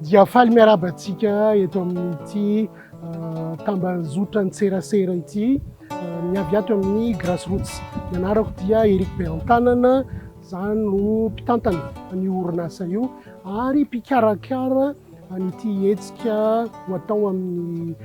Dia faly miarahaba antsika eto amin'ity ah, tambanjotran tserasera ity ah, ny avy ato amin'ny Grassroots. Ny anarako dia Eric Beantanana, za no mpitantana an'io orinasa io ary mpikarakara an'ity hetsika ho atao amin'ny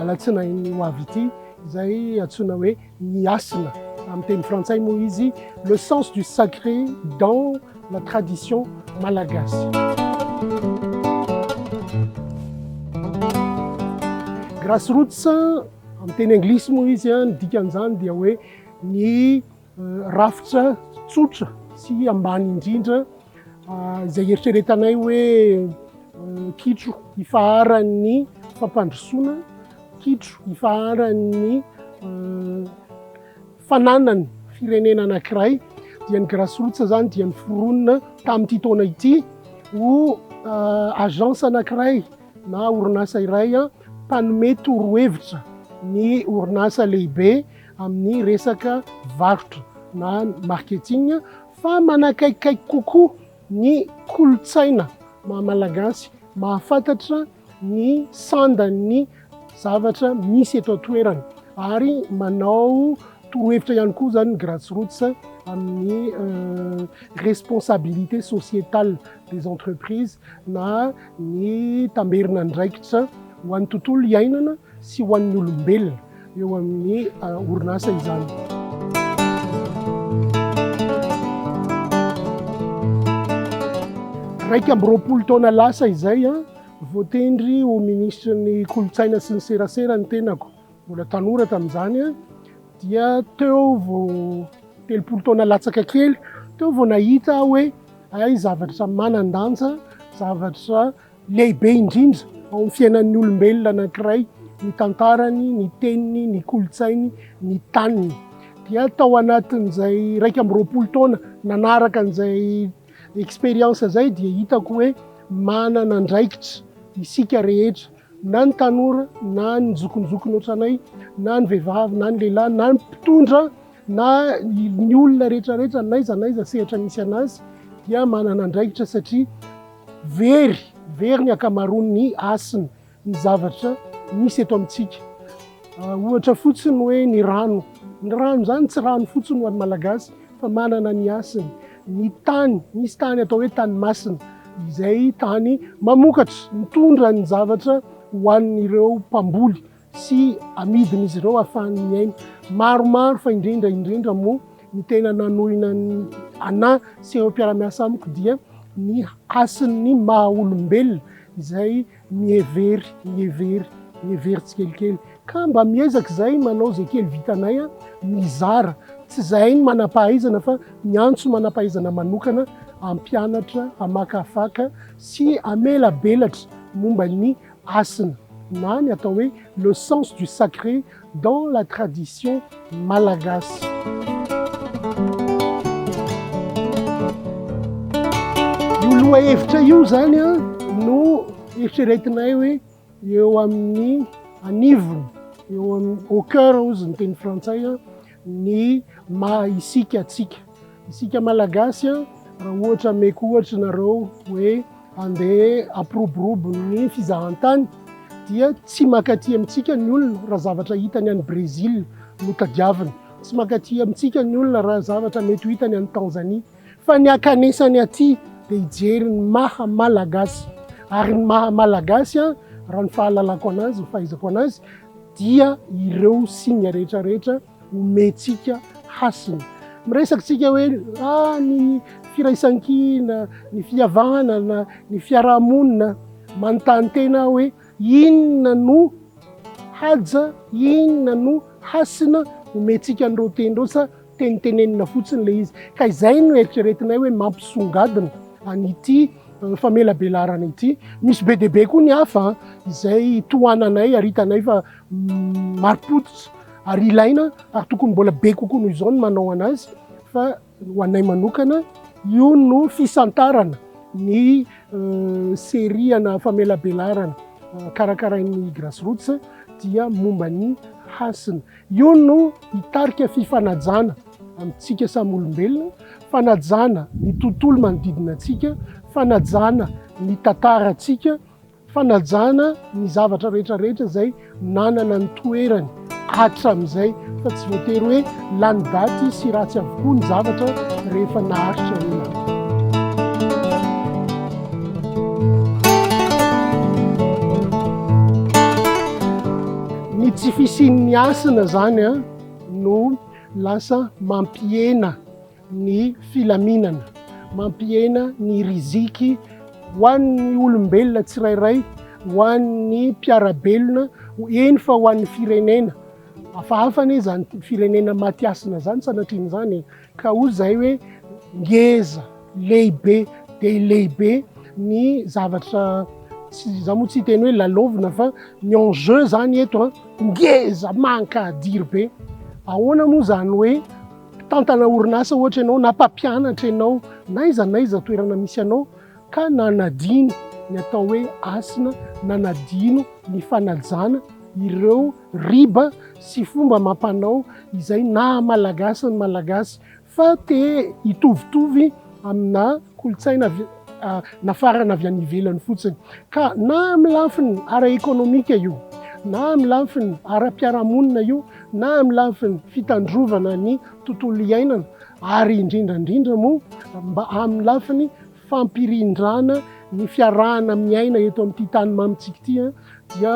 alatsinainy ho avy ity izay antsoina hoe ny hasina amin'ny teny frantsay moa izy le sens du sacré dans la tradition malagasy grassroots amin'ny teny anglisy moa izy ny dikan'izany dia hoe ny Rafitra tsotra sy ambany indrindra izay eritreretanay hoe kitro ifaharan'ny fampandrosoana, kitro ifaharan'ny fananan'ny firenena anankiray dia ny Grassroots izany dia niforonina tamin'ity taona ity ho agence anankiray na orinasa iray mpanome torohevitra ny orinasa lehibe. amin'ny resaka varotra na marketing fa manakaikikaiky kokoa ny kolontsaina maha malagasy, mahafantatra ny sandan'ny zavatra misy eto an-toerana ary manao torohevitra ihany koa izany ny Grassroots amin'ny responsabilité sociétale des entreprises na ny tamberin'andraikitra ho an'ny tontolo iainana sy ho an'ny olombelona. eo amin'ny orinasa izany. Iraika amby roapolo taona lasa izay a, voatendry ho minisitry ny kolontsaina sy ny serasera ny tenako, mbola tanora tamin'izany a, dia teo vao telopolo taona latsaka kely teo vao nahita aho hoe hay zavatra manan-danja, zavatra Lehibe indrindra ao amin'ny fiainan'ny olombelona anankiray ny tantarany, ny teniny, ny kolontsainy, ny taniny. Dia tao anatin'izay iraika amby roapolo taona nanaraka an'izay expérience izay dia hitako hoe manana andraikitra isika rehetra na ny tanora na ny zokinjokiny ohatranay na ny vehivavy na ny lehilahy na ny mpitondra na ny olona rehetra rehetra n'aiza n'aiza sehatra misy anazy dia manana andraikitra satria Very, very ny ankamaroan' ny hasin' ny zavatra misy eto amintsika. Ohatra fotsiny hoe ny rano. Ny rano izany tsy rano fotsiny ho an'ny Malagasy fa manana ny hasiny. Ny tany, misy tany atao hoe tany masina, izay tany mamokatra, mitondra ny zavatra ho an'ireo mpamboly sy amidin'izy ireo hahafahany miaina. Maromaro fa indrindra indrindra moa ny tena nanohina ny anà sy ireo mpiara-miasa amiko dia ny hasin'ny maha olombelona izay mihevery, mihevery, mihevery tsikelikely. Ka mba miezaka izay manao izay kely vitanay aho mizara, tsy izahay ny manam-pahaizana fa miantso manam-pahaizana manokana hampianatra, hamakafaka sy hamelabelatra momba ny Hasina na ny atao hoe le sens du sacré dans la tradition malagasy. Io lohahevitra io izany no eritreretinay hoe eo amin'ny anivony, eo amin'ny au cœur hozy ny teny frantsay, ny maha isika antsika. Isika Malagasy a, raha ohatra ameko ohatra nareo hoe andeha hampiroborobo ny fizahantany dia tsy mankaty amintsika ny olona raha zavatra hitany any Brezila no tadiaviny, tsy mankaty amintsika ny olona raha zavatra mety ho hitany any Tanzania. fa ny ankanesany aty dia hijery ny maha malagasy ary ny maha malagasy an raha ny fahalalako anazy ny fahaizako anazy dia ireo signe rehetra rehetra omentsika hasina miresaka tsika hoe ah ny firaisankina ny fihavanana ny fiarahamonina manontany tena hoe inona no haja inona no hasina omentsika an'ireo teny ireo sa Tenitenenina fotsiny ilay izy. Ka izay no eritreretinay hoe mampisongadina an'ity famelabelarana ity. Misy be dia be koa ny hafa izay tohananay ary hitanay fa marim-pototra ary ilaina ary tokony mbola be kokoa noho izao ny manao an'azy fa ho anay manokana io no fisantarana ny seriana famelabelarana karakarain'ny Grassroots dia momba ny hasina. Io no hitarika fifanajana amintsika samy olombelona, fanajana ny tontolo manodidina antsika, fanajana ny tantarantsika, fanajana ny zavatra rehetra rehetra izay nanana ny toerany hatramin'izay fa tsy voatery hoe lany daty sy ratsy avokoa ny zavatra rehefa naharitra ela. Ny tsy fisian'ny hasina izany no lasa mampihena ny filaminana, mampihena ny riziky ho an'ny olombelona tsirairay, ho an'ny mpiara-belona, eny fa ho an'ny firenena. Hafahafa anie izany firenena maty hasina izany sanatrian'izany e! Ka hoy izahay hoe, Ngeza, lehibe dia lehibe ny zavatra, izaho moa tsy hiteny hoe lalaovina fa ny enjeu izany eto an, ngeza, mankadiry be. Ahoana moa izany hoe mpitantana orinasa ohatra ianao na mpampianatra ianao na aiza na aiza toerana misy anao ka nanadino ny atao hoe hasina, nanadino ny fanajana ireo riba sy fomba amam-panao izay naha malagasy ny Malagasy fa te hitovitovy amina kolontsaina nafarana avy any ivelany fotsiny. Ka na amin'ny lafiny ara-ekonomika io, na amin'ny lafiny ara-piarahamonina io, na amin'ny lafiny fitandrovana ny tontolo iainana ary indrindra indrindra moa mba amin'ny lafiny fampirindrana ny fiarahana miaina eto amin'ity tany mamintsika ity dia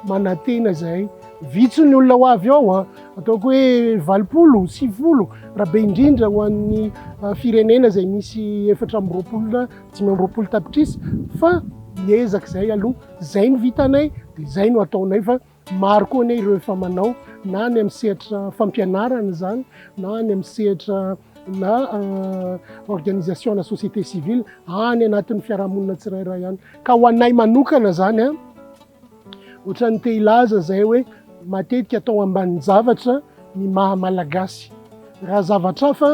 manantena izay vitso ny olona ho avy ao ataoko hoe valopolo sivifolo raha be indrindra ho an'ny firenena izay misy efatra amby roapolo dimy amby roapolo tapitrisa fa miezaka izay aloha izay no vitanay dia izay no ataonay fa Maro koa anie ireo efa manao na any amin'ny sehatra fampianarana izany na any amin'ny sehatra na organisation na société civile any anatin'ny fiarahamonina tsirairay any. Ka ho anay manokana izany a, ohatran'ny te hilaza izay hoe matetika atao ambanin-javatra ny maha-malagasy. Raha zavatra hafa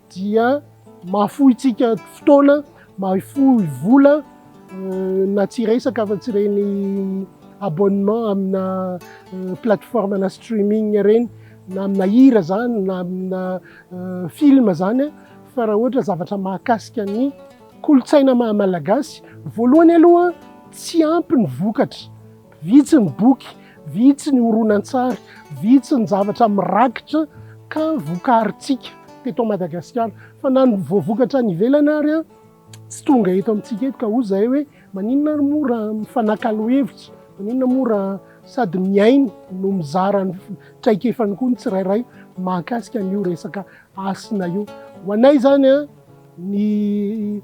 dia mahafohintsika fotoana, mahafoy vola na tsy resaka afa-tsy ireny abonnement amina plateforme na streaming ireny na amina hira izany na amina film izany fa raha ohatra zavatra mahakasika ny kolontsaina maha-malagasy, voalohany aloha tsy ampy ny vokatra. Vitsy ny boky, vitsy ny horonantsary, vitsy ny zavatra mirakitra ka vokarintsika teto Madagasikara. Fa na ny voavokatra any ivelany ary tsy tonga eto amintsika eto. Ka hoy izahay hoe maninona ary moa raha mifanakalo hevitra, maninona moa raha sady mihaino no mizara ny traikefany koa ny tsirairay mahakasika an'io resaka hasina io. Ho anay izany ny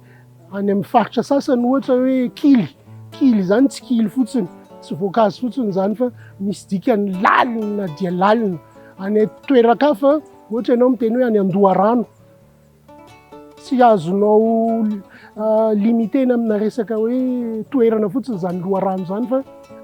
Any amin'ny faritra sasany ohatra hoe kily, kily izany tsy kily fotsiny, tsy voankazo fotsiny izany fa misy dikany lalina dia lalina. Any toeran-kafa ohatra ianao miteny hoe any Andoharano, tsy azonao limitena amina resaka hoe toerana fotsiny izany loharano izany fa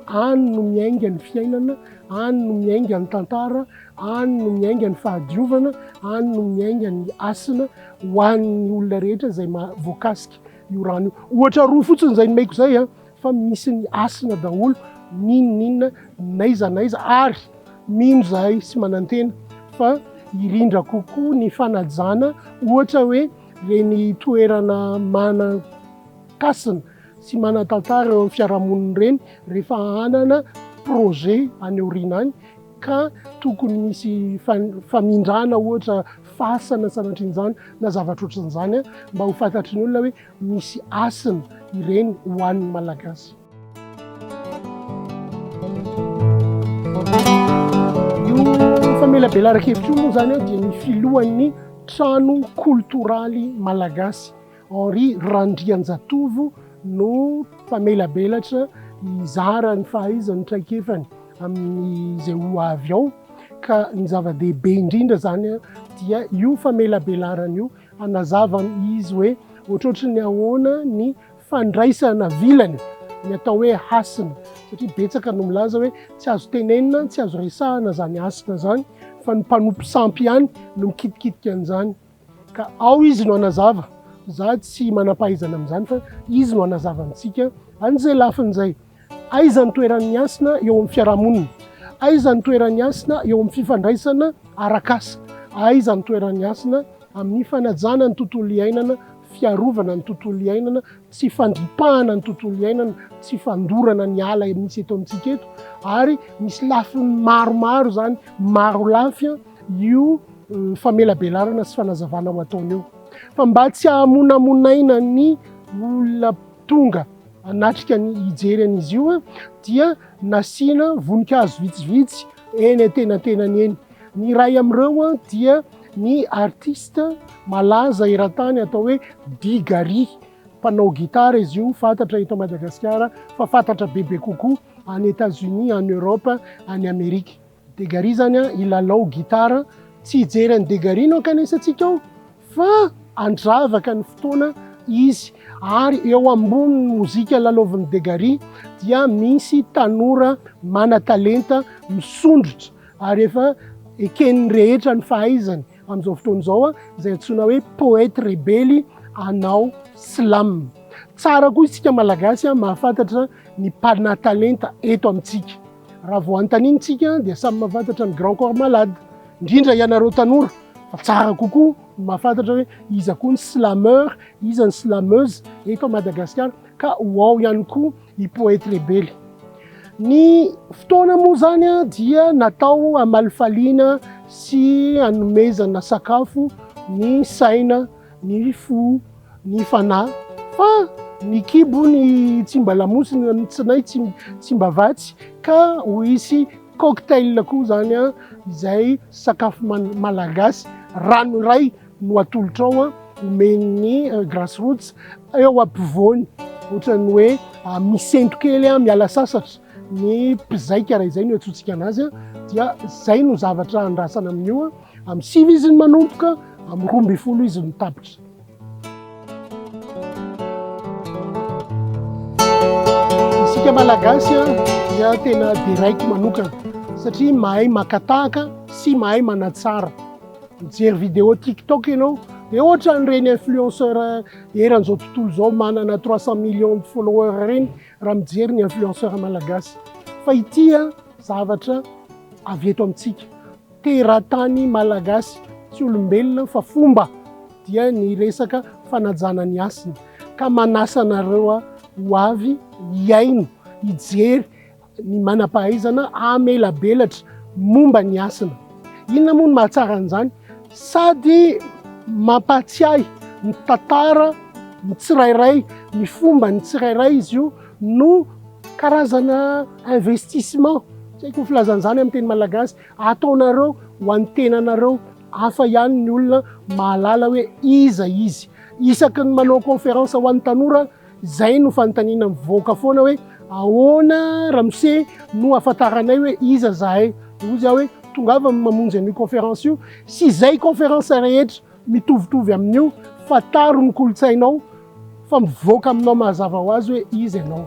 any no miainga ny fiainana, any no miainga ny tantara, any no miainga ny fahadiovana, any no miainga ny hasina. ho an'ny olona rehetra izay voakasika io rano io. Ohatra roa fotsiny izay nomeko izay a, fa misy ny hasina daholo n'inon'inona n'aiza n'aiza ary mino izahay sy manantena fa hirindra kokoa ny fanajana ohatra hoe ireny toerana manan-kasina sy manan-tantara eo amin'ny fiarahamonina ireny rehefa hanana projet any aoriana any. ka tokony hisy famindrana ohatra fasana sanatrian'izany na zavatra ohatran'izany mba ho fantatry ny olona hoe misy hasina ireny ho an'ny Malagasy. Io famelabelaran-kevitra io moa izany dia ny filohan'ny trano koltoraly malagasy. Henri Randrianjatovo no mpamelabelatra hizara ny fahaizany, ny traikefany amin'izay ho avy ao ka ny zava-dehibe indrindra izany dia io famelabelarana io hanazavany izy hoe ohatrohatry ny ahoana ny fandraisana vilany ny atao hoe hasina satria betsaka no milaza hoe tsy azo tenenina, tsy azo resahana izany hasina izany fa ny mpanompo sampy ihany no mikitikitika an'izany. Ka ao Izy no hanazava. Za tsy manam-pahaizana amin'izany fa Izy no hanazava amintsika an'izay lafiny izay. Aiza ny toeran'ny hasina eo amin'ny fiarahamonina? Aiza ny toeran'ny hasina eo amin'ny fifandraisana arak'asa? Aiza ny toeran'ny hasina amin'ny fanajana ny tontolo iainana, fiarovana ny tontolo iainana, tsy fandripahana ny tontolo iainana, tsy fandorana ny ala misy eto amintsika eto? Ary misy lafiny maromaro izany, maro lafy. io famelabelarana sy fanazavana ho ataony io fa mba tsy hahamonamonaina ny olona tonga hanatrika ny hijery an'izy io dia nasiana voninkazo vitsivitsy eny antenantenany eny. Ny iray amin'ireo dia ny artista malaza eran-tany atao hoe Digari. Mpanao gitara izy io, fantatra eto Madagasikara fa fantatra bebe kokoa any Etats-Unis, any Europe, any Amerika. De Gary zany an hilalao gitara, tsy hijery an'i De Gary no hankanesantsika ao fa handravaka ny fotoana izy ary eo ambonin'ny mozika lalaovin'i De Gary dia misy tanora mana-talenta misondrotra ary efa eken'ny rehetra ny fahaizany amin'izao fotoana izao an, izay antsoina hoe poète rebely hanao slam. Tsara koa isika Malagasy an mahafantatra ny mpana-talenta eto amintsika. Raha vao anontaniantsika dia samy mahafantatra ny grand corps malade, indrindra ianareo tanora fa tsara kokoa ny mahafantatra hoe iza koa ny slameur, iza ny slameuse eto Madagasikara ka ho ao ihany koa i Poety Rebely. Ny fotoana moa izany dia natao hamalifaliana sy hanomezana sakafo ny saina. ny fo, ny fanahy, fa ny kibo ny tsy mba lamosina, ny tsinay tsy tsy mba vatsy ka ho hisy cocktail koa zany a, izay sakafo malagasy rano iray no atolotra ao omen'ny Grace Roots eo ampovoany, ohatran'ny hoe misento kely miala sasatra. ny mpizaika raha izay no iantsoantsika anazy dia izay no zavatra andrasana amin'io amin'ny sivy izy ny manomboka amin'ny roa ambin'ny folo izy no tapitra isika malagasy dia tena deraiko manokana satria mahay makatahaka sy mahay manatsara mijery vidéo tiktok ianao dia ohatra an'ireny influenceur eran'izao tontolo izao manana trois cent millions de followers ireny raha mijery ny influenceur malagasy fa ity zavatra avy eto amintsika teratany malagasy tsy olombelona fa fomba dia ny resaka fanajana ny hasina ka manasa anareo ho avy hihaino hijery ny manam-pahaizana amelabelatra momba ny hasina Inona moa no mahatsara an'izany? Sady mampahatsiahy ny tantara ny tsirairay, ny fomba ny tsirairay izy io no karazana investissement, tsy haiko ny filazana an'izany amin'ny teny malagasy, ataonareo ho an'ny tenanareo. Hafa ihany ny olona mahalala hoe iza izy. Isaky ny manao conférence ho an'ny tanora aho Izay no fanontaniana mivoaka foana hoe ahoana ramose no ahafantaranay hoe iza zahay? Dia hoy izaho hoe tongava mamonjy an'io conférence io sy izay conférence rehetra mitovitovy amin'io, fantaro ny kolontsainao fa mivoaka aminao mazava ho azy hoe iza ianao.